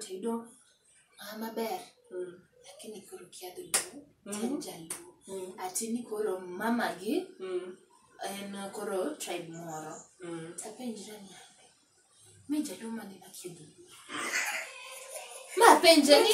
tedo ah, maber Mm. lakini koro kia dholuo Mhm. en jaluo Mm. ati ni koro mama gi Mm. en koro tribe moro Mm. tapenjra ni ande mi jaluo mane makia dholuo mapenje ni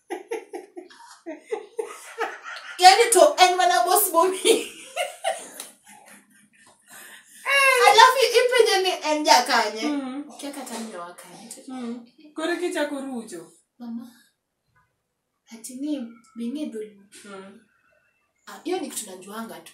yani to en mana bos bomi alafu ipenje ni en jakanye Mm. kia kata nyowa kanye to Mm. Koro kichako rucho. mama ati ni bing'e dhulumu Mm. Ah, hiyo ni kitu najuanga tu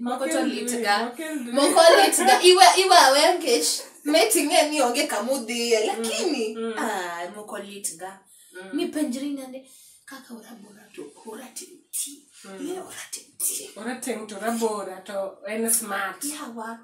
moko to litga moko litga iwe iwe awe nkech meting'e ni onge kama udhiye lakini Mm. ah, moko litga mipenjri nande kaka orabora to oratimti oratenti orateng' to rabora to en smart yawa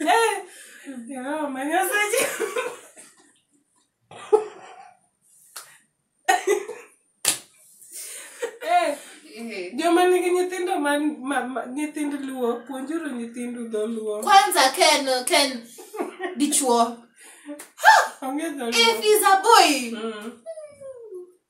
Eh, Jehova Nyasaye. Eh, Eh. joma nigi nyithindo man ma- ma- nyithind luo puonjuru nyithindu dholuo kwanza ken ken dichuo onge dholuo if he's a boy Mm.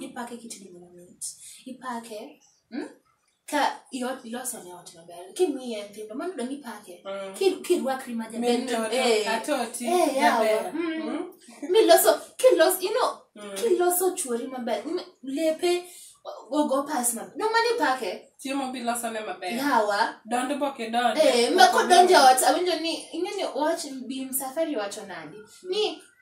ipake kitedi gima mit ipake mm? ka iot- iloso ne ot maber kimiye nyithindo mano dong ipake Mm. Ki- kirwakri ma jaber Min to- toto, eh, atoti, eh, yawa. jaber. Mm. Mm. miloso kiloso you know Mm. kiloso chuori maber m- lepe gogo pas maber no mano ipake chiemo bilosone maber yawa dond boke dond Eh, ma kodonjo ot awinjo ni ing'eni wach bim safari wacho nadi ni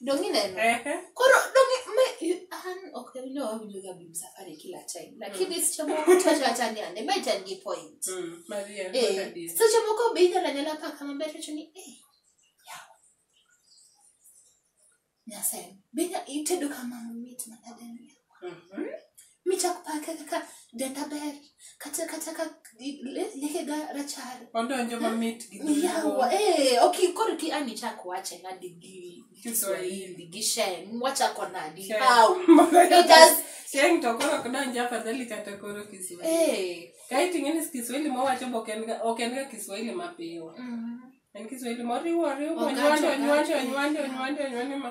Dongi neno. Ehe. Koro dongi me you an ok ne winjo wawinjo ga bim safari kila time. Lakini seche moko to acha ni ande ma itan gi point. Mm, Maria, Eh, look at this. seche moko be inyalo anyala paka maber to wacho ni eh. yawa. Nyasaye. Be inya- itedo kamano mit manade ni. Mhm. michak pake kaka denda ber kata kata ka lekega rachar odonjo mamit gi dho yawa eh, ok koro ki an ichak wache nadi gi kiswahili gi sheng wachako nadi Sheng. how it has Sheng to koro ok donj afadhali kata koro kiswahili eh kaeto ing'e ni kiswahili mowacho be ok en ga- ok en ga kiswahili mapiyo mm. en kiswahili moriwo oriwo Ogacho, nyuando nyuando ogacho. nyuando nyuando nyuando ma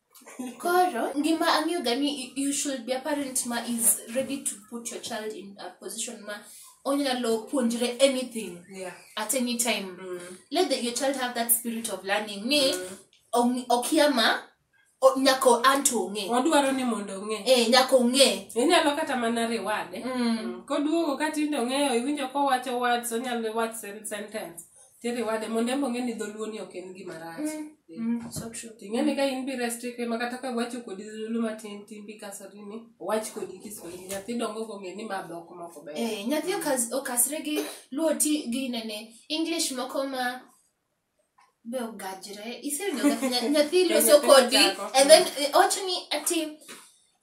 Koro, ngima ang'eyo ga ni you should be a parent ma is ready to put your child in a position ma onyalo puonjre anything Yeah. at any time. Let the, your child have that spirit of learning. Ni, ong- okia ma, o- nyako anto ong'e. Wadwaro ni mondo ong'e. Eh, nyako ong'e. Inyalo kata mana riwade. Mm. Koduogo ka tindo ong'eyo, iwinjo kowacho words, onyalo watch sen- sentence. Tere wade mondo embo ng'e ni dholuo ni ok en gima rach. Mm, so true. Ting'e ni ka in bi restrict ma kata ka wacho kodi dholuo matin tin bi kasori ni wach kodi Kiswahili nyathi dongo kong'e ni ma dhok moko ber. Eh, nyathi okas- okasre gi luo ti gi nene english moko ma be ogajre isewinjo ka nya- nyathi loso Nyathi kodi ochako. and then eh, owacho ni ati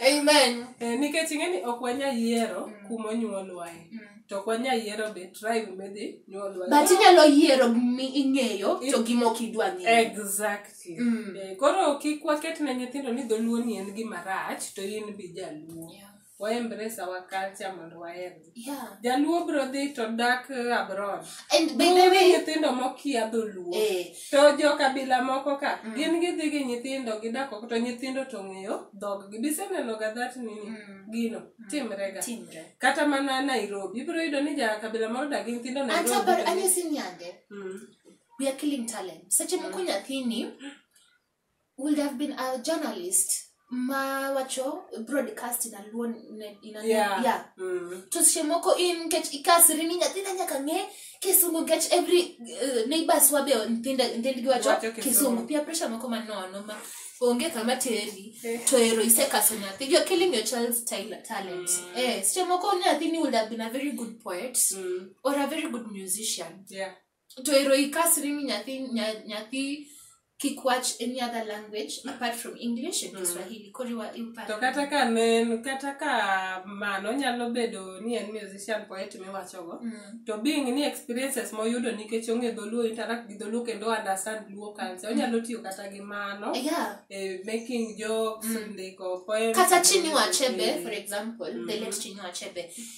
Amen. Eh, nikech ing'e ni ok wanya yiero mm. kuma onyuolwae mm. to ok wanya yiero be tribe midhi nyuolwa but inyalo yiero mi ing'eyo to gima ok idwa ng'eyo exactly mm. eh, koro kik waket ne nyithindo ni dholuo ni en gima rach to in bi jaluo yeah. waembrace our culture mondo waherre Yeah. jaluo bro dhi to dak eh, abroad And by the Onge way, nyithindo mokia dholuo eh, to jo kabila moko ka Mm. gin gidhi gi nyithindo gidak oko to nyithindo to ng'eyo dhoggi bisenenoga that nini Mm. gino timrega timre. kata mana nairobi ibiro yudo ni ja kabila moro dagi nyithindo Ata nairobi bar- to anyo ni- sini yande. Mm. We are killing talent. Seche moko nyathini would have been a journalist ma wacho broadcast in a luo ne- in a Yeah. yeah Mm. to seche moko in nikech ikasri ni nyathina nyaka ng'e kisungu nikech every uh, neighbors wabe nyithindo- nyithindgi wacho Wacho Kisungu. kisungu pia pressure moko manono ma onge kama teri Eh. to ero isekaso nyathi you're killing your child's tal- talent Mm. eh seche moko nyathini would have been a very good poet Mm. or a very good musician Yeah. to ero ikasri ni nyathi nya- nyathi kik wach any other language apart from english and kiswahili koro iwa- iparo. to kata ka ne en kata ka mano nyalo bedo ni en musician poet miwachogo Mm. to being ni experiences moyudo nikech ong'e dholuo interact gi dholuo kendo understand luo culture onyalo tiyo kata gi mano yeah eh, making jokes ndiko poems kata chinua achebe for example the late chinua achebe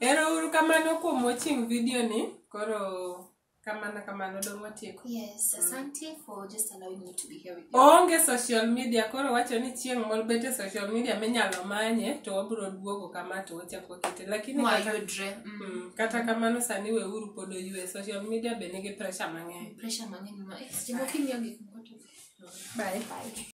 Ero uru kamano kuom watching video ni. Koro kamano kamano dong watieko. Yes, asante for just allowing me to be here with you. Onge social media koro wacho ni chieng' moro bete social media minyalo manye to wabiro duogo kama to wachako kete lakini kata, Mwayudre. Mm. mm, kata kamano sani we uru pod oyue social media be nigi pressure mang'eny. Pressure mang'eny ma. Eh, sijamokimia gik moko to. Bye. Bye.